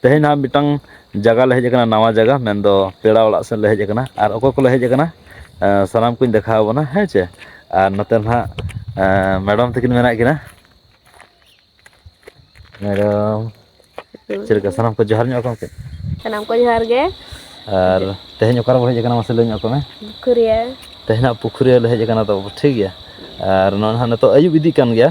ᱛᱮᱦᱮᱧ ᱱᱟᱦᱟᱜ ᱢᱤᱫᱴᱟᱝ ᱡᱟᱭᱜᱟ ᱞᱮ ᱦᱮᱡ ᱟᱠᱟᱱᱟ ᱱᱟᱣᱟ ᱡᱟᱭᱜᱟ ᱢᱮᱱᱫᱚ ᱯᱮᱲᱟ ᱚᱲᱟᱜ ᱥᱮᱫ ᱞᱮ ᱦᱮᱡ ᱟᱠᱟᱱᱟ ᱟᱨ ᱚᱠᱚᱭ ᱠᱚᱞᱮ ᱦᱮᱡ ᱟᱠᱟᱱᱟ ᱥᱟᱱᱟᱢ ᱠᱚᱧ ᱫᱮᱠᱷᱟᱣ ᱟᱵᱚᱱᱟ ᱦᱮᱸ ᱪᱮ ᱟᱨ ᱱᱚᱛᱮ ᱱᱟᱦᱟᱜ ᱢᱮᱰᱟᱢ ᱛᱟᱹᱠᱤᱱ ᱢᱮᱱᱟᱜ ᱠᱤᱱᱟ ᱢᱮᱰᱟᱢ ᱪᱮᱫ ᱞᱮᱠᱟ ᱥᱟᱱᱟᱢ ᱠᱚ ᱡᱚᱦᱟᱨ ᱧᱚᱜ ᱟᱠᱚ ᱠᱟᱹᱡ ᱥᱟᱱᱟᱢ ᱠᱚ ᱡᱚᱦᱟᱨ ᱜᱮ ᱟᱨ ᱛᱮᱦᱮᱧ ᱚᱠᱟᱨᱮ ᱵᱚᱱ ᱦᱮᱡ ᱟᱠᱟᱱᱟ ᱢᱟᱥᱮ ᱞᱟᱹᱭ ᱧᱚᱜ ᱟᱠᱚ ᱢᱮ ᱯᱩᱠᱷᱩᱨᱤᱭᱟᱹ ᱛᱮᱦᱮᱧᱟᱜ ᱯᱩᱠᱷᱩᱨᱤᱭᱟᱹ ᱞᱮ ᱦᱮᱡ ᱟᱠᱟᱱᱟ ᱛᱚ ᱴᱷᱤᱠ ᱜᱮᱭᱟ ᱟᱨ ᱱᱚᱜᱼᱚᱭ ᱱᱟᱦᱟᱜ ᱱᱤᱛᱚᱜ ᱟᱹᱭᱩᱵ ᱤᱫᱤᱜ ᱠᱟᱱ ᱜᱮᱭᱟ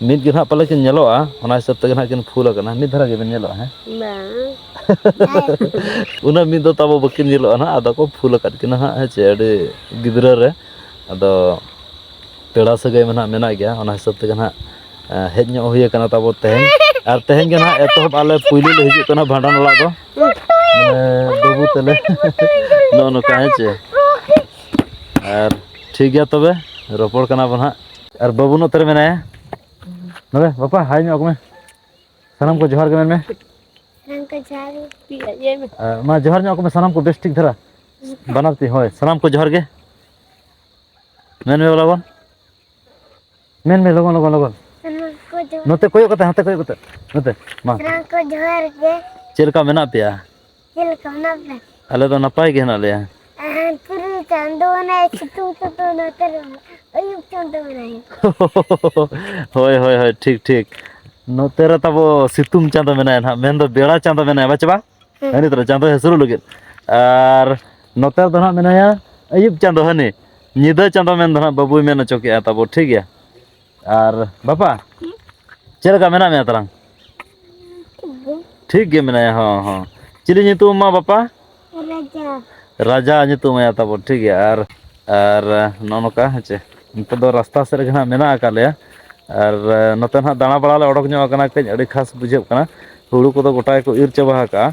ᱢᱤᱫ ᱜᱮ ᱱᱟᱦᱟᱜ ᱯᱟᱞᱮ ᱠᱤᱱ ᱧᱮᱞᱚᱜᱼᱟ ᱚᱱᱟ ᱦᱤᱥᱟᱹᱵ ᱛᱮᱜᱮ ᱱᱟᱦᱟᱜ ᱠᱤᱱ ᱯᱷᱩᱞ ᱟᱠᱟᱱᱟ ᱢᱤᱫ ᱫᱷᱟᱨᱟ ᱜᱮᱵᱤᱱ ᱧᱮᱞᱚᱜᱼᱟ ᱦᱮᱸ ᱩᱱᱟᱹᱜ ᱢᱤᱫ ᱫᱚ ᱛᱟᱵᱚ ᱵᱟᱹᱠᱤᱱ ᱧᱮᱞᱚᱜᱼᱟ ᱱᱟᱦᱟᱜ ᱟᱫᱚ ᱠᱚ ᱯᱷᱩᱞ ᱟᱠᱟᱫ ᱠᱤᱱᱟ ᱦᱟᱸᱜ ᱦᱮᱸ ᱪᱮ ᱟᱹᱰᱤ ᱜᱤᱫᱽᱨᱟᱹ ᱨᱮ ᱟᱫᱚ ᱯᱮᱲᱟ ᱥᱟᱹᱜᱟᱹᱭ ᱢᱟ ᱱᱟᱦᱟᱜ ᱢᱮᱱᱟᱜ ᱜᱮᱭᱟ ᱚᱱᱟ ᱦᱤᱥᱟᱹᱵ ᱛᱮᱜᱮ ᱱᱟᱦᱟᱜ ᱦᱮᱡ ᱧᱚᱜ ᱦᱩᱭ ᱟᱠᱟᱱᱟ ᱛᱟᱵᱚ ᱛᱮᱦᱮᱧ ᱟᱨ ᱛᱮᱦᱮᱧ ᱜᱮ ᱱᱟᱦᱟᱜ ᱮᱛᱚᱦᱚᱵ ᱟᱞᱮ ᱯᱩᱭᱞᱩ ᱞᱮ ᱦᱤᱡᱩᱜ ᱠᱟᱱᱟ ᱵᱷᱟᱸᱰᱟᱱ ᱚᱲᱟᱜ ᱫᱚ ᱵᱟᱹᱵᱩ ᱛᱟᱞᱮ ᱱᱚᱜᱼᱚ ᱱᱚᱝᱠᱟ ᱦᱮᱸ ᱪᱮ ᱟᱨ ᱴᱷᱤᱠ ᱜᱮᱭᱟ ᱛᱚᱵᱮ ᱨᱚᱯᱚᱲ ᱠᱟᱱᱟ ᱵᱚᱱ ᱦᱟᱸᱜ ᱟᱨ ᱵᱟᱹᱵᱩ ᱱᱚᱛᱮ ᱨᱮ ᱢᱮᱱᱟᱭᱟ ᱱᱚᱰᱮ ᱵᱟᱯᱟ ᱦᱟᱭ ᱧᱚᱜ ᱢᱮ ᱥᱟᱱᱟᱢ ᱠᱚ ᱡᱚᱦᱟᱨ ᱜᱮ ᱢᱮᱱ ᱢᱮ ᱜᱚᱝᱠᱮ ᱡᱚᱦᱟᱨ ᱜᱮ ᱯᱤᱭᱟ ᱤᱭᱟᱹ ᱢᱮ ᱟᱨ ᱢᱟ ᱡᱚᱦᱟᱨ ᱧᱚᱜ ᱢᱮ ᱥᱟᱱᱟᱢ ᱠᱚ ᱵᱮᱥ ᱴᱷᱤᱠ ᱫᱷᱟᱨᱟ ᱵᱟᱱᱟᱨ ᱛᱤ ᱦᱳᱭ ᱥᱟᱱᱟᱢ ᱠᱚ ᱡᱚᱦᱟᱨ ᱜᱮ ᱢᱮᱱ ᱢᱮ ᱞᱚᱜᱚᱱ ᱢᱮᱱ ᱢᱮ ᱞᱚᱜᱚᱱ ᱞᱚᱜᱚᱱ ᱞᱚᱜᱚᱱ ᱥᱟᱱᱟᱢ ᱠᱚ ᱡᱚᱦᱟᱨ ᱱᱚᱛᱮ ᱠᱚᱭᱚᱜ ᱠᱟᱛᱮ ᱦᱟᱱᱛᱮ ᱠᱚᱭᱚᱜ ᱠᱟᱛᱮ ᱱᱚᱛᱮ ᱢᱟ ᱥᱟᱱᱟᱢ ᱠᱚ ᱡᱚᱦᱟᱨ ᱜᱮ ᱪᱮᱫ ᱞᱮᱠᱟ ᱢᱮᱱᱟᱜ ᱯᱮᱭᱟ ᱪᱮᱫ ᱞᱮᱠᱟ ᱢᱮᱱᱟᱜ ᱯᱮ ᱟᱞᱮ ᱫᱚ ᱱᱟᱯᱟᱭ ᱜᱮ ᱦᱮᱱᱟᱜ ᱞᱮᱭᱟ ᱯᱩᱨᱩᱞ ᱪᱟᱸᱫᱚ ᱢᱮᱱᱟᱭ ᱥᱤᱛᱩᱝ ᱪᱟᱸᱫᱚ ᱢᱮᱱᱟᱭ ᱟᱹᱭᱩᱵ ᱪᱟᱸᱫᱚ ᱢᱮᱱᱟᱭ ᱦᱳᱭ ᱦᱳᱭ ᱦᱳᱭ ᱴᱷᱤᱠ ᱴᱷᱤᱠ ᱱᱚᱛᱮ ᱨᱮ ᱛᱟᱵᱚ ᱥᱤᱛᱩᱝ ᱪᱟᱸᱫᱚ ᱢᱮᱱᱟᱭᱟ ᱱᱟᱦᱟᱜ ᱢᱮᱱᱫᱚ ᱵᱮᱲᱟ ᱪᱟᱸᱫᱚ ᱢᱮᱱᱟᱭᱟ ᱵᱟᱪᱮ ᱵᱟᱝ ᱦᱟᱹᱱᱤ ᱛᱚᱨᱟ ᱪᱟᱸᱫᱚ ᱦᱟᱹᱥᱩᱨᱚᱜ ᱞᱟᱹᱜᱤᱫ ᱟᱨ ᱱᱚᱛᱮ ᱨᱮᱫᱚ ᱱᱟᱦᱟᱜ ᱢᱮᱱᱟᱭᱟ ᱟᱹᱭᱩᱵ ᱪᱟᱸᱫᱚ ᱦᱟᱹᱱᱤ ᱧᱤᱫᱟᱹ ᱪᱟᱸᱫᱚ ᱢᱮᱱᱫᱚ ᱱᱟᱦᱟᱜ ᱵᱟᱹᱵᱩᱭ ᱢᱮᱱ ᱦᱚᱪᱚ ᱠᱮᱜᱼᱟ ᱛᱟᱵᱚ ᱴᱷᱤᱠ ᱜᱮᱭᱟ ᱟᱨ ᱵᱟᱯᱟ ᱪᱮᱫ ᱞᱮᱠᱟ ᱢᱮᱱᱟᱜ ᱢᱮᱭᱟ ᱛᱟᱞᱟᱝ ᱴᱷᱤᱠ ᱜᱮ ᱢᱮᱱᱟᱭᱟ ᱦᱚᱸ ᱦᱚᱸ ᱪᱤᱞᱤ ᱧᱩᱛᱩᱢ ᱢᱟ ᱵᱟᱯᱟ ᱨᱟᱡᱟ ᱨᱟᱡᱟ ᱧᱩᱛᱩᱢ ᱟᱭᱟ ᱛᱟᱵᱚᱱ ᱴᱷᱤᱠ ᱜᱮᱭᱟ ᱟᱨ ᱟᱨ ᱱᱚᱜᱼᱚ ᱱᱚᱝᱠᱟ ᱦᱮᱸ ᱪᱮ ᱱᱤᱛᱚᱜ ᱫᱚ ᱨᱟᱥᱛᱟ ᱥᱮᱫ ᱨᱮᱜᱮ ᱦᱟᱸᱜ ᱢᱮᱱᱟᱜ ᱟᱠᱟᱫ ᱞᱮᱭᱟ ᱟᱨ ᱱᱚᱛᱮ ᱱᱟᱦᱟᱜ ᱫᱟᱬᱟ ᱵᱟᱲᱟᱞᱮ ᱚᱰᱚᱠ ᱧᱚᱜ ᱟᱠᱟᱱᱟ ᱠᱟᱹᱡ ᱟᱹᱰᱤ ᱠᱷᱟᱥ ᱵᱩᱡᱷᱟᱹᱜ ᱠᱟᱱᱟ ᱦᱩᱲᱩ ᱠᱚᱫᱚ ᱜᱚᱴᱟ ᱜᱮᱠᱚ ᱤᱨ ᱪᱟᱵᱟ ᱟᱠᱟᱜᱼᱟ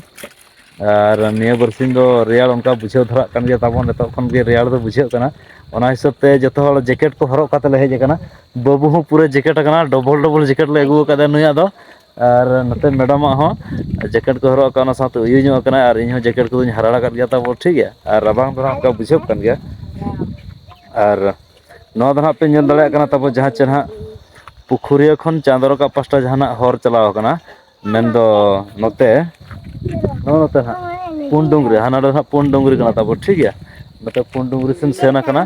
ᱟᱨ ᱱᱤᱭᱟᱹ ᱵᱟᱨᱥᱤᱧ ᱫᱚ ᱨᱮᱭᱟᱲ ᱚᱱᱠᱟ ᱵᱩᱡᱷᱟᱹᱣ ᱫᱷᱟᱨᱟᱜ ᱠᱟᱱ ᱜᱮᱭᱟ ᱛᱟᱵᱚᱱ ᱱᱤᱛᱚᱜ ᱠᱷᱚᱱ ᱜᱮ ᱨᱮᱭᱟᱲ ᱫᱚ ᱵᱩᱡᱷᱟᱹᱜ ᱠᱟᱱᱟ ᱚᱱᱟ ᱦᱤᱥᱟᱹᱵ ᱛᱮ ᱡᱚᱛᱚ ᱦᱚᱲ ᱡᱮᱠᱮᱴ ᱠᱚ ᱦᱚᱨᱚᱜ ᱠᱟᱛᱮ ᱞᱮ ᱦᱮᱡ ᱟᱠᱟᱱᱟ ᱵᱟᱹᱵᱩ ᱦᱚᱸ ᱯᱩᱨᱟᱹ ᱡᱮᱠᱮᱴ ᱟᱠᱟᱱᱟ ᱰᱚᱵᱚᱞ ᱰᱚᱵᱚᱞ ᱡᱮᱠᱮᱴ ᱠᱮᱴ ᱞᱮ ᱟᱹᱜᱩ ᱟᱪᱪᱷᱟ ᱟᱠᱟᱫᱮᱭᱟ ᱱᱩᱭᱟᱜ ᱫᱚ ᱟᱨ ᱱᱚᱛᱮ ᱢᱮᱰᱟᱢᱟᱜ ᱦᱚᱸ ᱡᱮᱠᱮᱴ ᱠᱚ ᱦᱚᱨᱚᱜ ᱟᱠᱟᱫ ᱚᱱᱟ ᱥᱟᱶᱛᱮ ᱛᱚ ᱩᱭᱩ ᱧᱚᱜ ᱠᱟᱱᱟᱭ ᱟᱨ ᱤᱧ ᱦᱚᱸ ᱡᱮᱠᱮᱴ ᱠᱚᱫᱚᱧ ᱦᱟᱨᱟᱲ ᱟᱠᱟᱫ ᱜᱮᱭᱟ ᱛᱟᱵᱚ ᱴᱷᱤᱠ ᱜᱮᱭᱟ ᱟᱨ ᱨᱟᱵᱟᱝ ᱫᱚ ᱦᱟᱸᱜ ᱚᱱᱠᱟ ᱵᱩᱡᱷᱟᱹᱜ ᱠᱟᱱ ᱜᱮᱭᱟ ᱟᱨ ᱱᱚᱣᱟ ᱫᱚ ᱦᱟᱸᱜ ᱯᱮ ᱧᱮᱞ ᱫᱟᱲᱮᱭᱟᱜ ᱠᱟᱱᱟ ᱛᱟᱵᱚ ᱡᱟᱦᱟᱸ ᱪᱮᱫ ᱦᱟᱸᱜ ᱯᱩᱠᱷᱩᱨᱤᱭᱟᱹ ᱠᱷᱚᱱ ᱪᱟᱸᱫᱚ ᱨᱟᱠᱟᱵ ᱯᱟᱥᱴᱟ ᱡᱟᱦᱟᱱᱟᱜ ᱦᱚᱨ ᱪᱟᱞᱟᱣ ᱟᱠᱟᱱᱟ ᱢᱮᱱᱫᱚ ᱱᱚᱛᱮ ᱱᱚᱜᱼᱚ ᱱᱚᱛᱮ ᱱᱟᱜ ᱯᱩᱸᱰ ᱰᱩᱝᱨᱤ ᱦᱟᱱᱟ ᱫᱚ ᱦᱟᱸᱜ ᱯᱩᱸᱰ ᱰᱩᱝᱨᱤ ᱠᱟᱱᱟ ᱛᱟᱵᱚ ᱴᱷᱤᱠ ᱜᱮᱭᱟ ᱱᱚᱛᱮ ᱯᱩᱸᱰ ᱰᱩᱝᱨᱤ ᱥᱮᱱ ᱥᱮᱱ ᱟᱠᱟᱱᱟ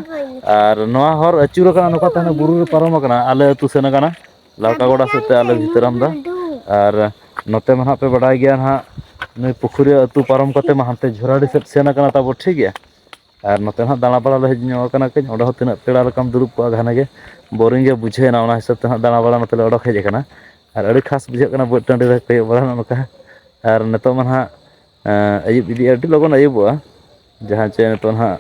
ᱟᱨ ᱱᱚᱣᱟ ᱦᱚᱨ ᱟᱹᱪᱩᱨ ᱟᱠᱟᱱᱟ ᱱᱚᱝᱠᱟ ᱛᱮ ᱦᱟᱱᱮ ᱵᱩᱨᱩ ᱨᱮ ᱯᱟᱨᱚᱢ ᱟᱠᱟᱱᱟ ᱟᱞᱮ ᱟᱹᱛᱩ ᱥᱮᱱ ᱟᱠᱟᱱᱟ ᱞᱟᱲᱠᱟ ᱜᱚᱰᱟ ᱥᱮᱫ ᱛᱮ ᱟᱞᱮ ᱵᱷᱤᱛᱟᱹᱨᱟᱢ ᱫᱚ ᱟᱨ ᱱᱚᱛᱮ ᱢᱟ ᱦᱟᱸᱜ ᱯᱮ ᱵᱟᱰᱟᱭ ᱜᱮᱭᱟ ᱦᱟᱸᱜ ᱱᱩᱭ ᱯᱩᱠᱷᱩᱨᱤᱭᱟᱹ ᱟᱹᱛᱩ ᱯᱟᱨᱚᱢ ᱠᱟᱛᱮᱫ ᱢᱟ ᱦᱟᱱᱛᱮ ᱡᱷᱚᱨᱟᱰᱤ ᱥᱮᱫ ᱥᱮᱱ ᱟᱠᱟᱱᱟ ᱛᱟᱵᱚ ᱴᱷᱤᱠ ᱜᱮᱭᱟ ᱟᱨ ᱱᱚᱛᱮ ᱦᱟᱸᱜ ᱫᱟᱬᱟ ᱵᱟᱲᱟ ᱞᱮ ᱦᱮᱡ ᱧᱚᱜ ᱟᱠᱟᱱᱟ ᱠᱟᱹᱡ ᱚᱸᱰᱮ ᱦᱚᱸ ᱛᱤᱱᱟᱹᱜ ᱯᱮᱲᱟ ᱞᱮᱠᱟᱢ ᱫᱩᱲᱩᱵ ᱠᱚᱜᱼᱟ ᱜᱷᱟᱱᱮ ᱜᱮ ᱵᱳᱨᱤᱝ ᱜᱮ ᱵᱩᱡᱷᱟᱹᱣᱱᱟ ᱚᱱᱟ ᱦᱤᱥᱟᱹᱵᱽ ᱛᱮ ᱦᱟᱸᱜ ᱫᱟᱬᱟᱵᱟᱲᱟ ᱱᱚᱛᱮ ᱞᱮ ᱚᱰᱚᱠ ᱦᱮᱡ ᱟᱠᱟᱱᱟ ᱟᱨ ᱟᱹᱰᱤ ᱠᱷᱟᱥ ᱵᱩᱡᱷᱟᱹᱜ ᱠᱟᱱᱟ ᱵᱟᱹᱫᱽ ᱴᱟᱺᱰᱤ ᱨᱮ ᱠᱚᱭᱚᱜ ᱵᱟᱲᱟ ᱱᱚᱜᱼᱚ ᱱᱚᱝᱠᱟ ᱟᱨ ᱱᱤᱛᱚᱜ ᱢᱟ ᱦᱟᱸᱜ ᱟᱹᱭᱩᱵ ᱤᱫᱤᱜᱼᱟ ᱟᱹᱰᱤ ᱞᱚᱜᱚᱱ ᱟᱹᱭᱩᱵᱚᱜᱼᱟ ᱡᱟᱦᱟᱸ ᱪᱮ ᱱᱤᱛᱚᱜ ᱦᱟᱸᱜ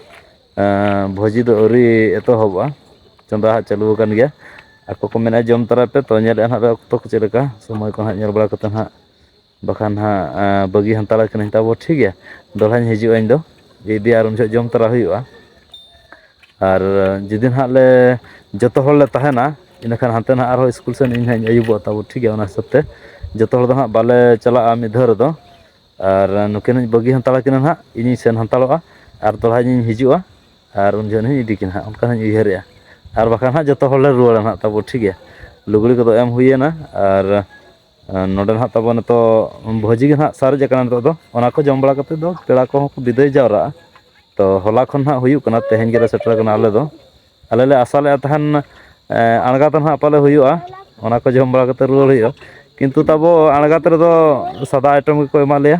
ᱵᱷᱚᱡᱤ ᱫᱚ ᱟᱹᱣᱨᱤ ᱮᱛᱚᱦᱚᱵᱚᱜᱼᱟ ᱪᱚᱸᱫᱟ ᱦᱟᱸᱜ ᱪᱟᱹᱞᱩ ᱟᱠᱟᱱ ᱜᱮᱭᱟ ᱟᱠᱚ ᱠᱚ ᱢᱮᱱᱟ ᱡᱚᱢ ᱛᱟᱨᱟᱭ ᱯᱮ ᱛᱚ ᱧᱮᱞᱮᱫᱼᱟ ᱦᱟᱸᱜ ᱚᱠᱛᱚ ᱠᱚ ᱪᱮᱫ ᱞᱮᱠᱟ ᱥᱚᱢᱚᱭ ᱠᱚ ᱦᱟᱸᱜ ᱧᱮᱞ ᱵᱟᱲᱟ ᱠᱟᱛᱮᱫ ᱦᱟᱸᱜ ᱵᱟᱠᱷᱟᱱ ᱦᱟᱸᱜ ᱵᱟᱹᱜᱤ ᱦᱟᱱᱛᱟᱲ ᱠᱟᱹᱱᱟᱹᱧ ᱛᱟᱵᱚ ᱴᱷᱤᱠ ᱜᱮᱭᱟ ᱫᱚᱲᱦᱟᱧ ᱦᱤᱡᱩᱜᱼᱟ ᱤᱧ ᱫᱚ ᱤᱫᱤᱭᱟ ᱟᱨ ᱩᱱ ᱡᱚᱦᱚᱜ ᱡᱚᱢ ᱛᱚᱨᱟ ᱦᱩᱭᱩᱜᱼᱟ ᱟᱨ ᱡᱩᱫᱤ ᱱᱟᱦᱟᱜ ᱞᱮ ᱡᱚᱛᱚ ᱦᱚᱲ ᱞᱮ ᱛᱟᱦᱮᱱᱟ ᱤᱱᱟᱹᱠᱷᱟᱱ ᱦᱟᱱᱛᱮ ᱱᱟᱦᱟᱜ ᱟᱨᱦᱚᱸ ᱤᱥᱠᱩᱞ ᱥᱮᱱ ᱤᱧ ᱦᱟᱸᱜ ᱟᱹᱭᱩᱵᱚᱜᱼᱟ ᱛᱟᱵᱚ ᱴᱷᱤᱠ ᱜᱮᱭᱟ ᱚᱱᱟ ᱦᱤᱥᱟᱹᱵ ᱛᱮ ᱡᱚᱛᱚ ᱦᱚᱲ ᱫᱚ ᱦᱟᱸᱜ ᱵᱟᱞᱮ ᱪᱟᱞᱟᱜᱼᱟ ᱢᱤᱫ ᱫᱷᱟᱣ ᱨᱮᱫᱚ ᱟᱨ ᱱᱩᱠᱤᱱ ᱦᱚᱸᱧ ᱵᱟᱹᱜᱤ ᱦᱟᱱᱛᱟᱲ ᱟᱹᱠᱤᱱᱟ ᱦᱟᱸᱜ ᱤᱧᱤᱧ ᱥᱮᱱ ᱦᱟᱱᱛᱟᱲᱚᱜᱼᱟ ᱟᱨ ᱫᱚᱲᱦᱟ ᱤᱧᱤᱧ ᱦᱤᱡᱩᱜᱼᱟ ᱟᱨ ᱩᱱ ᱡᱚᱦᱚᱜ ᱦᱚᱸᱧ ᱤᱫᱤ ᱠᱤᱱᱟ ᱦᱟᱸᱜ ᱚᱱᱠᱟ ᱦᱚᱸᱧ ᱩᱭᱦᱟᱹᱨᱮᱜᱼᱟ ᱟᱨ ᱵᱟᱠᱷᱟᱱ ᱦᱟᱸᱜ ᱡᱚᱛᱚ ᱦᱚᱲᱞᱮ ᱨᱩᱣᱟᱹᱲᱟ ᱦᱟᱸᱜ ᱛᱟᱵᱚ ᱴᱷᱤᱠ ᱜᱮᱭᱟ ᱞᱩᱜᱽᱲᱤ ᱠᱚᱫᱚ ᱮᱢ ᱦᱩᱭᱱᱟ ᱟᱨ ᱱᱚᱰᱮ ᱱᱟᱦᱟᱜ ᱛᱟᱵᱚ ᱱᱤᱛᱚᱜ ᱵᱷᱚᱡᱤ ᱜᱮ ᱱᱟᱦᱟᱜ ᱥᱟᱨᱮᱡ ᱟᱠᱟᱱᱟ ᱱᱤᱛᱚᱜ ᱫᱚ ᱚᱱᱟ ᱠᱚ ᱡᱚᱢ ᱵᱟᱲᱟ ᱠᱟᱛᱮ ᱫᱚ ᱯᱮᱲᱟ ᱠᱚᱦᱚᱸ ᱠᱚ ᱵᱤᱫᱟᱹᱭ ᱡᱟᱣᱨᱟᱜᱼᱟ ᱛᱚ ᱦᱚᱞᱟ ᱠᱷᱚᱱ ᱦᱟᱸᱜ ᱦᱩᱭᱩᱜ ᱠᱟᱱᱟ ᱛᱮᱦᱮᱧ ᱜᱮᱞᱮ ᱥᱮᱴᱮᱨ ᱠᱟᱱᱟ ᱟᱞᱮ ᱫᱚ ᱟᱞᱮ ᱞᱮ ᱟᱥᱟ ᱞᱮᱫ ᱛᱟᱦᱮᱱ ᱟᱬᱜᱟᱛ ᱨᱮ ᱱᱟᱦᱟᱜ ᱯᱟᱞᱮ ᱦᱩᱭᱩᱜᱼᱟ ᱚᱱᱟ ᱠᱚ ᱡᱚᱢ ᱵᱟᱲᱟ ᱠᱟᱛᱮ ᱨᱩᱣᱟᱹᱲ ᱦᱩᱭᱩᱜᱼᱟ ᱠᱤᱱᱛᱩ ᱛᱟᱵᱚ ᱟᱬᱜᱟᱛ ᱨᱮᱫᱚ ᱥᱟᱫᱟ ᱟᱭᱴᱮᱢ ᱜᱮᱠᱚ ᱮᱢᱟ ᱞᱮᱭᱟ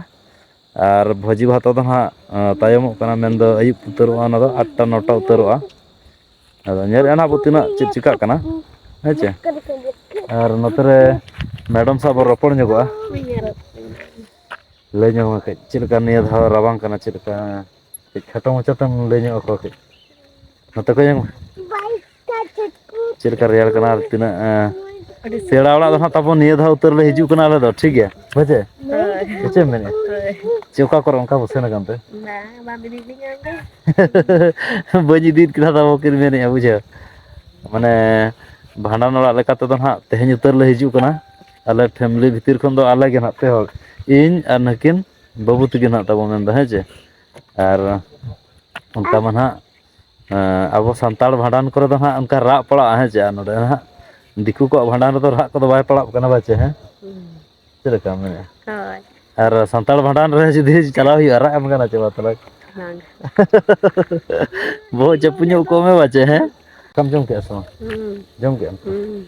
ᱟᱨ ᱵᱷᱚᱡᱤ ᱵᱷᱟᱛᱟ ᱫᱚ ᱦᱟᱸᱜ ᱛᱟᱭᱚᱢᱚᱜ ᱠᱟᱱᱟ ᱢᱮᱱᱫᱚ ᱟᱹᱭᱩᱵ ᱩᱛᱟᱹᱨᱚᱜᱼᱟ ᱚᱱᱟ ᱫᱚ ᱟᱴᱴᱟ ᱱᱚᱴᱟ ᱩᱛᱟᱹᱨᱚᱜᱼᱟ ᱟᱫᱚ ᱧᱮᱞ ᱮᱱᱟ ᱵᱚ ᱛᱤᱱᱟᱹᱜ ᱪᱮᱫ ᱪᱤᱠᱟᱹᱜ ᱠᱟᱱᱟ ᱦᱮᱸ ᱪᱮ ᱟᱨ ᱱᱚᱛᱮ ᱨᱮ ᱢᱮᱰᱚᱢ ᱥᱟᱶ ᱵᱚᱱ ᱨᱚᱯᱚᱲ ᱧᱚᱜᱚᱜᱼᱟ ᱞᱟᱹᱭ ᱧᱚᱜ ᱢᱮ ᱠᱟᱹᱡ ᱪᱮᱫ ᱞᱮᱠᱟ ᱱᱤᱭᱟᱹ ᱫᱷᱟᱣ ᱨᱟᱵᱟᱝ ᱠᱟᱱᱟ ᱪᱮᱫ ᱞᱮᱠᱟ ᱠᱟᱹᱡ ᱠᱷᱟᱴᱚ ᱢᱟᱪᱷᱟ ᱛᱮᱢ ᱞᱟᱹᱭ ᱧᱚᱜ ᱟᱠᱚᱣᱟ ᱠᱟᱹᱡ ᱱᱚᱛᱮ ᱠᱷᱚᱡ ᱧᱮᱞ ᱢᱮ ᱪᱮᱫ ᱞᱮᱠᱟ ᱨᱮᱭᱟᱲ ᱠᱟᱱᱟ ᱟᱨ ᱛᱤᱱᱟᱹᱜ ᱯᱮᱲᱟ ᱚᱲᱟᱜ ᱫᱚ ᱦᱟᱸᱜ ᱛᱟᱵᱚᱱ ᱱᱤᱭᱟᱹ ᱫᱷᱟᱣ ᱩᱛᱟᱹᱨ ᱞᱮ ᱦᱤᱡᱩᱜ ᱠᱟᱱᱟ ᱟᱞᱮ ᱫᱚ ᱴᱷᱤᱠ ᱜᱮᱭᱟ ᱦᱳᱭ ᱥᱮ ᱪᱮᱫ ᱮᱢ ᱢᱮᱱᱮᱫᱼᱟ ᱪᱮ ᱚᱠᱟ ᱠᱚᱨᱮ ᱚᱱᱠᱟ ᱵᱚ ᱥᱮᱱ ᱟᱠᱟᱱ ᱛᱮ ᱵᱟᱹᱧ ᱤᱫᱤᱭᱮᱫ ᱠᱤᱱᱟ ᱛᱟᱵᱚ ᱠᱤᱱ ᱢᱮᱱᱮᱫᱼᱟ ᱵᱩᱡᱷᱟᱹᱣ ᱢᱟᱱᱮ ᱵᱷᱟᱸᱰᱟᱱ ᱚᱲᱟᱜ ᱞᱮᱠᱟ ᱛᱮᱫᱚ ᱦᱟᱸᱜ ᱛᱮᱦᱮᱧ ᱩᱛᱟᱹᱨ ᱞᱮ ᱦᱤᱡᱩᱜ ᱠᱟᱱᱟ ᱟᱞᱮ ᱯᱷᱮᱢᱮᱞᱤ ᱵᱷᱤᱛᱤᱨ ᱠᱷᱚᱱ ᱫᱚ ᱟᱞᱮ ᱜᱮ ᱦᱟᱸᱜ ᱯᱮ ᱦᱚᱲ ᱤᱧ ᱟᱨ ᱱᱩᱠᱤᱱ ᱵᱟᱹᱵᱩ ᱛᱤᱠᱤᱱ ᱦᱟᱸᱜ ᱛᱟᱵᱚ ᱢᱮᱱᱫᱟ ᱦᱮᱸ ᱪᱮ ᱟᱨ ᱚᱱᱠᱟ ᱢᱟ ᱱᱟᱦᱟᱜ ᱟᱵᱚ ᱥᱟᱱᱛᱟᱲ ᱵᱷᱟᱸᱰᱟᱱ ᱠᱚᱨᱮ ᱫᱚ ᱦᱟᱸᱜ ᱚᱱᱠᱟ ᱨᱟᱜ ᱯᱟᱲᱟᱜᱼᱟ ᱦᱮᱸ ᱪᱮ ᱟᱨ ᱱᱚᱸᱰᱮ ᱦᱟᱸᱜ ᱫᱤᱠᱩ ᱠᱚᱣᱟᱜ ᱵᱷᱟᱸᱰᱟᱱ ᱨᱮᱫᱚ ᱨᱟᱜ ᱠᱚᱫᱚ ᱵᱟᱭ ᱯᱟᱲᱟᱜ ᱠᱟᱱᱟ ᱵᱟᱪᱮ ᱦᱮᱸ ᱪᱮᱫ ᱞᱮᱠᱟ ᱢᱮᱱᱮᱫᱼᱟ ᱦᱳᱭ ᱟᱨ ᱥᱟᱱᱛᱟᱲ ᱵᱷᱟᱸᱰᱟᱱ ᱨᱮ ᱡᱩᱫᱤ ᱪᱟᱞᱟᱣ ᱦᱩᱭᱩᱜᱼᱟ ᱨᱟᱜ ᱮᱢ ᱜᱟᱱᱟ ᱪᱮ ᱢᱟ ᱛᱟᱦᱚᱞᱮ ᱵᱟᱝ ᱵᱚᱦᱚᱜ ᱪᱟᱯᱩ ᱧᱚᱜ ᱠᱚᱜ ᱢᱮ ᱵᱟᱪᱮ ᱦᱮᱸ ᱫᱟᱠᱟᱢ ᱡᱚᱢ ᱠᱮᱜᱼᱟ ᱥᱮ ᱵᱟᱝ ᱦᱩᱸ ᱡᱚᱢ ᱠᱮᱜᱼᱟᱢ ᱦᱩᱸ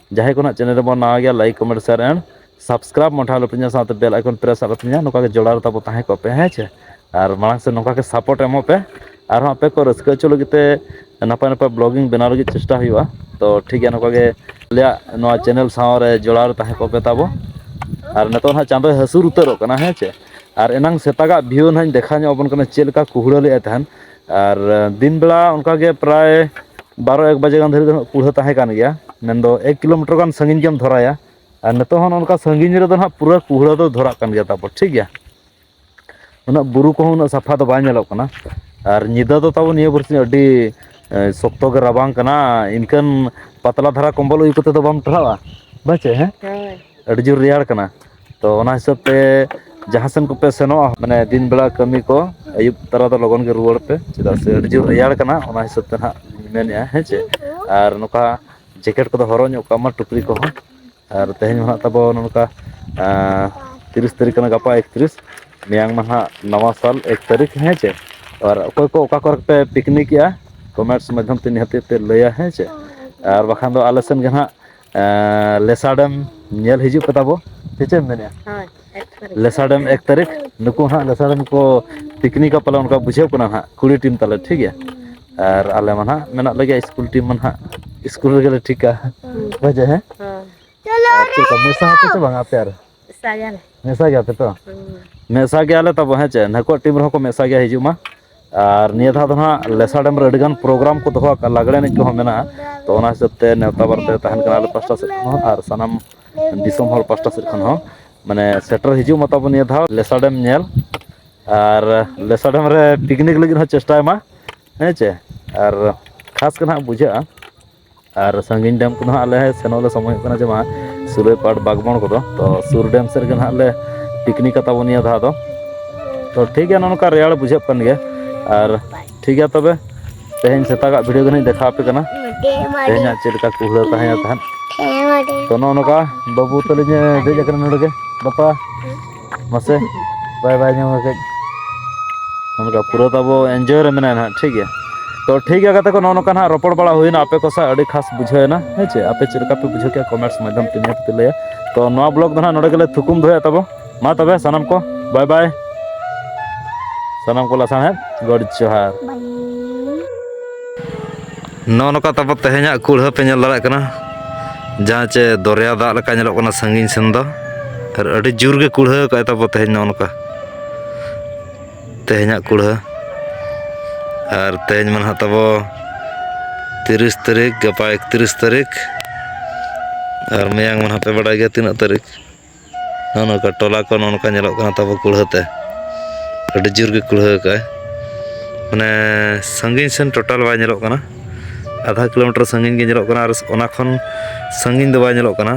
ᱡᱟᱦᱟᱸᱭ ᱠᱚ ᱱᱟᱦᱟᱜ ᱪᱮᱱᱮᱞ ᱨᱮᱵᱚᱱ ᱱᱟᱣᱟ ᱜᱮᱭᱟ like comment share and subscribe ᱢᱚᱴᱷᱟ ᱟᱞᱚᱯᱮ ᱦᱤᱲᱤᱧᱟ ᱥᱟᱶᱛᱮ ᱵᱮᱞ ᱟᱭᱠᱚᱱ ᱯᱨᱮᱥ ᱟᱞᱚᱯᱮ ᱦᱤᱲᱤᱧᱟ ᱱᱚᱝᱠᱟ ᱜᱮ ᱡᱚᱲᱟᱣ ᱨᱮ ᱛᱟᱵᱚ ᱛᱟᱦᱮᱸ ᱠᱚᱜ ᱯᱮ ᱦᱮᱸ ᱪᱮ ᱟᱨ ᱢᱟᱲᱟᱝ ᱥᱮᱫ ᱱᱚᱝᱠᱟ ᱜᱮ ᱥᱟᱯᱚᱴ ᱮᱢᱚᱜ ᱯᱮ ᱟᱨᱦᱚᱸ ᱟᱯᱮ ᱠᱚ ᱨᱟᱹᱥᱠᱟᱹ ᱦᱚᱪᱚ ᱞᱟᱹᱜᱤᱫ ᱛᱮ ᱱᱟᱯᱟᱭ ᱱᱟᱯᱟᱭ ᱵᱞᱚᱜᱤᱝ ᱵᱮᱱᱟᱣ ᱞᱟᱹᱜᱤᱫ ᱪᱮᱥᱴᱟ ᱦᱩᱭᱩᱜᱼᱟ ᱛᱚ ᱴᱷᱤᱠ ᱜᱮᱭᱟ ᱱᱚᱝᱠᱟ ᱜᱮ ᱟᱞᱮᱭᱟᱜ ᱱᱚᱣᱟ ᱪᱮᱱᱮᱞ ᱥᱟᱶ ᱨᱮ ᱡᱚᱲᱟᱣ ᱨᱮ ᱛᱟᱦᱮᱸ ᱠᱚᱜ ᱯᱮ ᱛᱟᱵᱚ ᱟᱨ ᱱᱤᱛᱚᱜ ᱱᱟᱦᱟᱜ ᱪᱟᱸᱫᱚᱭ ᱦᱟᱹᱥᱩᱨ ᱩᱛᱟᱹᱨᱚᱜ ᱠᱟᱱᱟ ᱦᱮᱸ ᱪᱮ ᱟᱨ ᱮᱱᱟᱝ ᱥᱮᱛᱟᱜᱟᱜ ᱵᱷᱤᱭᱩ ᱱᱟᱦᱟᱜ ᱤᱧ ᱫᱮᱠᱷᱟᱣ ᱧᱚᱜ ᱟᱵᱚᱱ ᱠᱟᱱᱟ ᱪᱮᱫ ᱞᱮᱠᱟ ᱠᱩᱦᱩᱲᱟᱹ ᱞᱮᱫᱼᱟᱭ ᱛᱟᱦᱮᱱ ᱟᱨ ᱫᱤᱱ ᱵᱮᱲᱟ ᱚᱱᱠᱟ ᱜᱮ ᱯᱨᱟᱭ ᱵᱟᱨᱚ ᱮᱠ ᱵᱟᱡᱮ ᱜᱟᱱ ᱫᱷᱟᱹᱨᱤᱡ ᱫᱚ ᱦᱟᱸᱜ ᱠᱩᱲᱟᱹ ᱛᱟᱦᱮᱸ ᱠᱟᱱ ᱜᱮᱭᱟ ᱢᱮᱱᱫᱚ ᱮᱠ ᱠᱤᱞᱳᱢᱤᱴᱟᱨ ᱜᱟᱱ ᱥᱟᱺᱜᱤᱧ ᱜᱮᱢ ᱫᱷᱚᱨᱟᱭᱟ ᱟᱨ ᱱᱤᱛᱚᱜ ᱦᱚᱸ ᱱᱚᱝᱠᱟ ᱥᱟᱺᱜᱤᱧ ᱨᱮᱫᱚ ᱦᱟᱸᱜ ᱯᱩᱨᱟᱹ ᱠᱩᱲᱟᱹ ᱫᱚ ᱫᱷᱚᱨᱟᱜ ᱠᱟᱱ ᱜᱮᱭᱟ ᱛᱟᱵᱚ ᱴᱷᱤᱠ ᱜᱮᱭᱟ ᱩᱱᱟᱹᱜ ᱵᱩᱨᱩ ᱠᱚᱦᱚᱸ ᱩᱱᱟᱹᱜ ᱥᱟᱯᱷᱟ ᱫᱚ ᱵᱟᱭ ᱧᱮᱞᱚᱜ ᱠᱟᱱᱟ ᱟᱨ ᱧᱤᱫᱟᱹ ᱫᱚ ᱛᱟᱵᱚᱱ ᱱᱤᱭᱟᱹ ᱵᱟᱨᱥᱤᱧ ᱟᱹᱰᱤ ᱥᱚᱠᱛᱚ ᱜᱮ ᱨᱟᱵᱟᱝ ᱠᱟᱱᱟ ᱤᱱᱠᱟᱹᱱ ᱯᱟᱛᱞᱟ ᱫᱷᱟᱨᱟ ᱠᱚᱢᱵᱚᱞ ᱩᱭᱩ ᱠᱟᱛᱮᱫ ᱫᱚ ᱵᱟᱢ ᱴᱟᱨᱦᱟᱜᱼᱟ ᱵᱟᱪᱮ ᱦᱮᱸ ᱦᱳᱭ ᱟᱹᱰᱤ ᱡᱳᱨ ᱨᱮᱭᱟᱲ ᱠᱟᱱᱟ ᱛᱚ ᱚᱱᱟ ᱦᱤᱥᱟᱹᱵ ᱛᱮ ᱡᱟᱦᱟᱸ ᱥᱮᱱ ᱠᱚᱯᱮ ᱥᱮᱱᱚᱜᱼᱟ ᱢᱟᱱᱮ ᱫᱤᱱ ᱵᱮᱲᱟ ᱠᱟᱹᱢᱤ ᱠᱚ ᱟᱹᱭᱩᱵ ᱛᱟᱨᱟ ᱫᱚ ᱞᱚᱜᱚᱱ ᱜᱮ ᱨᱩᱣᱟᱹᱲ ᱯᱮ ᱪᱮᱫᱟᱜ ᱥᱮ ᱟᱹᱰᱤ ᱡᱳᱨ ᱨᱮᱭᱟᱲ ᱠᱟᱱᱟ ᱚᱱᱟ ᱦᱤᱥᱟᱹᱵ ᱛᱮ ᱱᱟᱦᱟᱜ ᱢᱮᱱᱮᱫᱼᱟ ᱦᱮᱸ ᱪᱮ ᱟᱨ ᱱᱚᱝᱠᱟ ᱡᱮᱠᱮᱴ ᱠᱚᱫᱚ ᱦᱚᱨᱚᱜ ᱧᱚᱜ ᱠᱟᱜ ᱢᱟ ᱴᱩᱯᱨᱤ ᱠᱚᱦᱚᱸ ᱟᱨ ᱛᱮᱦᱮᱧ ᱢᱟ ᱦᱟᱸᱜ ᱛᱟᱵᱚ ᱱᱚᱝᱠᱟ ᱛᱤᱨᱤᱥ ᱛᱟᱹᱨᱤᱠᱷ ᱠᱟᱱᱟ ᱜᱟᱯᱟ ᱮᱠᱛᱨᱤᱥ ᱢᱮᱭᱟᱝ ᱢᱟ ᱦᱟᱸᱜ ᱱᱟᱣᱟ ᱥᱟᱞ ᱮᱠ ᱛᱟᱹᱨᱤᱠᱷ ᱦᱮᱸ ᱪᱮ ᱟᱨ ᱚᱠᱚᱭ ᱠᱚ ᱚᱠᱟ ᱠᱚᱨᱮ ᱯᱮ ᱯᱤᱠᱱᱤᱠᱮᱼᱟ ᱠᱚᱢᱮᱱᱴᱥ ᱢᱟᱫᱽᱫᱷᱚᱢ ᱛᱮ ᱱᱤᱦᱟᱹᱛ ᱯᱮ ᱞᱟᱹᱭᱟ ᱦᱮᱸ ᱪᱮ ᱟᱨ ᱵᱟᱠᱷᱟᱱ ᱫᱚ ᱟᱞᱮ ᱥᱮᱫ ᱜᱮ ᱦᱟᱸᱜ ᱞᱮᱥᱟ ᱰᱮᱢ ᱧᱮᱞ ᱦᱤᱡᱩᱜ ᱯᱮ ᱛᱟᱵᱚ ᱥᱮ ᱪᱮᱫ ᱮᱢ ᱢᱮᱱᱮᱫᱼᱟ ᱦᱳᱭ ᱮᱠ ᱛᱟᱹᱨᱤᱠᱷ ᱞᱮᱥᱟ ᱰᱮᱢ ᱮᱠ ᱛᱟᱹᱨᱤᱠᱷ ᱱᱩᱠᱩ ᱦᱟᱸᱜ ᱞᱮᱥᱟ ᱰᱮᱢ ᱠᱚ ᱯᱤᱠᱱᱤᱠᱟ ᱯᱟᱞᱮ ᱚᱱᱠᱟ ᱵᱩᱡᱷᱟᱹᱜ ᱠᱟᱱᱟ ᱦᱟᱸᱜ ᱠᱩᱲᱤ ᱴᱤᱢ ᱛᱟᱞᱮ ᱴᱷᱤᱠ ᱜᱮᱭᱟ ᱟᱨ ᱟᱞᱮ ᱢᱟ ᱦᱟᱸᱜ ᱢᱮᱱᱟᱜ ᱞᱮᱜᱮᱭᱟ ᱤᱥᱠᱩᱞ ᱴᱤᱢ ᱢᱟ ᱦᱟᱸᱜ ᱤᱥᱠᱩᱞ ᱨᱮᱜᱮ ᱞᱮ ᱴᱷᱤᱠᱟ ᱦᱮᱸ ᱦᱳᱭ ᱪᱮᱫ ᱞᱮᱠᱟ ᱢᱮᱥᱟ ᱟᱯᱮ ᱥᱮ ᱵᱟᱝ ᱟᱯᱮ ᱟᱨ ᱢᱮᱥᱟ ᱜᱮᱭᱟᱞᱮ ᱢᱮᱥᱟ ᱜᱮᱭᱟ ᱯᱮ ᱛᱚ ᱢᱮᱥᱟ ᱜᱮᱭᱟᱞᱮ ᱛᱟᱵᱚ ᱦᱮᱸ ᱪᱮ ᱱᱟᱹᱠᱩᱣᱟᱜ ᱴᱤᱢ ᱨᱮᱦᱚᱸ ᱠᱚ ᱢᱮᱥᱟ ᱜᱮᱭᱟ ᱦᱤᱡᱩᱜ ᱢᱟ ᱟᱨ ᱱᱤᱭᱟᱹ ᱫᱷᱟᱣ ᱫᱚ ᱦᱟᱸᱜ ᱞᱮᱥᱟ ᱰᱮᱢ ᱨᱮ ᱟᱹᱰᱤ ᱜᱟᱱ ᱯᱨᱳᱜᱨᱟᱢ ᱠᱚ ᱫᱚᱦᱚ ᱟᱠᱟᱫᱼᱟ ᱞᱟᱜᱽᱲᱮ ᱮᱱᱮᱡ ᱠᱚᱦᱚᱸ ᱢᱮᱱᱟᱜᱼᱟ ᱛᱚ ᱚᱱᱟ ᱦᱤᱥᱟᱹᱵ ᱛᱮ ᱱᱮᱣᱛᱟ ᱵᱟᱨᱛᱮ ᱛᱟᱦᱮᱱ ᱠᱟᱱᱟ ᱟᱞᱮ ᱯᱟᱥᱴᱟ ᱥᱮᱫ ᱠᱷᱚᱱ ᱦᱚᱸ ᱟᱨ ᱥᱟᱱᱟᱢ ᱫᱤᱥᱚᱢ ᱦᱚᱲ ᱯᱟᱥᱴᱟ ᱥᱮᱫ ᱠᱷᱚᱱ ᱦᱚᱸ ᱢᱟᱱᱮ ᱥᱮᱴᱮᱨ ᱦᱤᱡᱩᱜ ᱢᱟ ᱛᱟᱵᱚ ᱱᱤᱭᱟᱹ ᱫᱷᱟᱣ ᱞᱮᱥᱟ ᱰᱮᱢ ᱧᱮᱞ ᱟᱨ ᱞᱮᱥᱟ ᱰᱮᱢ ᱨᱮ ᱯᱤᱠᱱᱤᱠ ᱞᱟᱹᱜᱤᱫ ᱦᱚᱸ ᱪᱮᱥᱴᱟᱭ ᱢᱟ ᱦᱮᱸ ᱪᱮ ᱟᱨ ᱠᱷᱟᱥ ᱜᱮ ᱱᱟᱦᱟᱜ ᱵᱩᱡᱷᱟᱹᱜᱼᱟ ᱟᱨ ᱥᱟᱺᱜᱤᱧ ᱰᱮᱢ ᱠᱚᱫᱚ ᱦᱟᱸᱜ ᱟᱞᱮ ᱥᱮᱱᱚᱜ ᱞᱮ ᱥᱚᱢᱚᱭᱚᱜ ᱠᱟᱱᱟ ᱡᱮ ᱵᱟᱝ ᱥᱩᱨᱟᱹᱭ ᱯᱟᱴ ᱵᱟᱜᱽᱵᱚᱬ ᱠᱚᱫᱚ ᱛᱚ ᱥᱩᱨ ᱰᱮᱢ ᱥᱮᱫ ᱨᱮᱜᱮ ᱦᱟᱸᱜ ᱞᱮ ᱯᱤᱠᱱᱤᱠ ᱠᱟᱛᱟ ᱵᱚᱱ ᱱᱤᱭᱟᱹ ᱫᱷᱟᱣ ᱫᱚ ᱛᱚ ᱴᱷᱤᱠ ᱜᱮᱭᱟ ᱱᱚᱜᱼᱚ ᱱᱚᱝᱠᱟ ᱨᱮᱭᱟᱲ ᱵᱩᱡᱷᱟᱹᱜ ᱠᱟᱱ ᱜᱮᱭᱟ ᱟᱨ ᱴᱷᱤᱠ ᱜᱮᱭᱟ ᱛᱚᱵᱮ ᱛᱮᱦᱮᱧ ᱥᱮᱛᱟᱜᱟᱜ ᱵᱷᱤᱰᱤᱭᱳ ᱫᱚ ᱱᱟᱦᱟᱜ ᱫᱮᱠᱷᱟᱣ ᱟᱯᱮ ᱠᱟᱱᱟ ᱛᱮᱦᱮᱧᱟᱜ ᱪᱮᱫ ᱞᱮᱠᱟ ᱠᱩᱦᱲᱟᱹ ᱛᱟᱦᱮᱸᱭᱟ ᱛᱟᱦᱮᱸᱫ ᱛᱚ ᱱᱚᱜᱼᱚ ᱱᱚᱝᱠᱟ ᱵᱟᱹᱵᱩ ᱛᱟᱹᱞᱤᱧᱮ ᱫᱮᱡ ᱟᱠᱟᱱᱟ ᱱᱚᱰᱮ ᱜᱮ ᱵᱟᱯᱟ ᱢᱟᱥᱮ ᱵᱟᱭ ᱵᱟᱭ ᱧᱟᱢᱟ ᱠᱟᱹᱡ ᱱᱚᱝᱠᱟ ᱯᱩᱨᱟᱹ ᱛᱟᱵᱚ ᱮᱱᱡᱚᱭ ᱨᱮ ᱢᱮᱱᱟᱭᱟ ᱱᱟᱦᱟᱜ ᱴᱷᱤᱠ ᱜᱮᱭᱟ ᱛᱚ ᱴᱷᱤᱠ ᱜᱮᱭᱟ ᱜᱟᱛᱮ ᱠᱚ ᱱᱚᱜᱼᱚ ᱱᱚᱝᱠᱟ ᱱᱟᱦᱟᱜ ᱨᱚᱯᱚᱲ ᱵᱟᱲᱟ ᱦᱩᱭᱱᱟ ᱟᱯᱮ ᱠᱚ ᱥᱟᱶ ᱟᱹᱰᱤ ᱠᱷᱟᱥ ᱵᱩᱡᱷᱟᱹᱣᱮᱱᱟ ᱦᱮᱸ ᱪᱮ ᱟᱯᱮ ᱪᱮᱫ ᱞᱮᱠᱟ ᱯᱮ ᱵᱩᱡᱷᱟᱹᱣ ᱠᱮᱜᱼᱟ ᱠᱚᱢᱮᱱᱴᱥ ᱢᱟᱫᱽᱫᱷᱚᱢ ᱛᱮ ᱱᱤᱦᱟᱹᱛ ᱯᱮ ᱞᱟᱹᱭᱟ ᱛᱚ ᱱᱚᱣᱟ ᱵᱞᱚᱜ ᱫᱚ ᱱᱟᱦᱟᱜ ᱱᱚᱰᱮ ᱜᱮᱞᱮ ᱛᱷᱩᱠᱩᱢ ᱫᱚᱦᱚᱭᱟ ᱛᱟᱵᱚ ᱢᱟ ᱛᱚᱵᱮ ᱥᱟᱱᱟᱢ ᱠᱚ ᱵᱟᱭ ᱵᱟᱭ ᱥᱟᱱᱟᱢ ᱠᱚ ᱞᱟᱥᱟᱬᱦᱮᱫ ᱜᱚᱰ ᱡᱚᱦᱟᱨ ᱱᱚᱜᱼᱚ ᱱᱚᱝᱠᱟ ᱛᱟᱯᱚᱨ ᱛᱮᱦᱮᱧᱟᱜ ᱠᱩᱲᱦᱟᱹ ᱯᱮ ᱧᱮᱞ ᱫᱟᱲᱮᱭᱟᱜ ᱠᱟᱱᱟ ᱡᱟᱦᱟᱸ ᱪᱮ ᱫᱚᱨᱭᱟ ᱫᱟᱜ ᱞᱮᱠᱟ ᱧᱮᱞᱚᱜ ᱠᱟᱱᱟ ᱥᱟᱺᱜᱤᱧ ᱥᱮᱱ ᱫᱚ ᱟᱨ ᱟᱹᱰᱤ ᱡᱳᱨ ᱜᱮ ᱠᱩᱲᱦᱟᱹ ᱠᱟᱜᱼᱟᱭ ᱛᱟᱯᱚᱨ ᱛᱮᱦᱮᱧ ᱱᱚᱜᱼᱚ ᱱᱚᱝᱠᱟ ᱛᱮᱦᱮᱧᱟᱜ ᱠᱩᱲᱦᱟᱹ ᱟᱨ ᱛᱮᱦᱮᱧ ᱢᱟ ᱱᱟᱦᱟᱜ ᱛᱟᱵᱚ ᱛᱤᱨᱤᱥ ᱛᱟᱹᱨᱤᱠᱷ ᱜᱟᱯᱟ ᱮᱠᱛᱤᱨᱤᱥ ᱛᱟᱹᱨᱤᱠᱷ ᱟᱨ ᱢᱮᱭᱟᱝ ᱢᱟ ᱱᱟᱦᱟᱜ ᱯᱮ ᱵᱟᱰᱟᱭ ᱜᱮᱭᱟ ᱛᱤᱱᱟᱹᱜ ᱛᱟᱹᱨᱤᱠᱷ ᱱᱚᱜᱼᱚ ᱱᱚᱝᱠᱟ ᱴᱚᱞᱟ ᱠᱚ ᱱᱚᱜᱼᱚ ᱱᱚᱝᱠᱟ ᱧᱮᱞᱚᱜ ᱠᱟᱱᱟ ᱛᱟᱵᱚ ᱠᱩᱲᱦᱟᱹ ᱛᱮ ᱟᱹᱰᱤ ᱡᱳᱨ ᱜᱮ ᱠᱩᱲᱦᱟᱹ ᱟᱠᱟᱫ ᱟᱭ ᱢᱟᱱᱮ ᱥᱟᱺᱜᱤᱧ ᱥᱮᱱ ᱴᱳᱴᱟᱞ ᱵᱟᱭ ᱧᱮᱞᱚᱜ ᱠᱟᱱᱟ ᱟᱫᱷᱟ ᱠᱤᱞᱳᱢᱤᱴᱟᱨ ᱥᱟᱺᱜᱤᱧ ᱜᱮ ᱧᱮᱞᱚᱜ ᱠᱟᱱᱟ ᱟᱨ ᱚᱱᱟ ᱠᱷᱚᱱ ᱥᱟᱺᱜᱤᱧ ᱫᱚ ᱵᱟᱭ ᱧᱮᱞᱚᱜ ᱠᱟᱱᱟ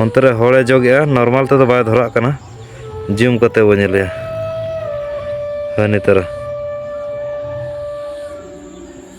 ᱚᱱᱛᱮ ᱨᱮ ᱦᱚᱲᱮ ᱡᱚᱜᱮᱜᱼᱟ ᱱᱚᱨᱢᱟᱞ ᱛᱮᱫᱚ ᱵᱟᱭ ᱫᱷᱚᱨᱟᱜ ᱠᱟᱱᱟ ᱡᱩᱢ ᱠᱟᱛᱮ ᱵᱚ ᱧᱮᱞᱮᱭᱟ ᱦᱳᱭ ᱱᱤᱛᱚᱜ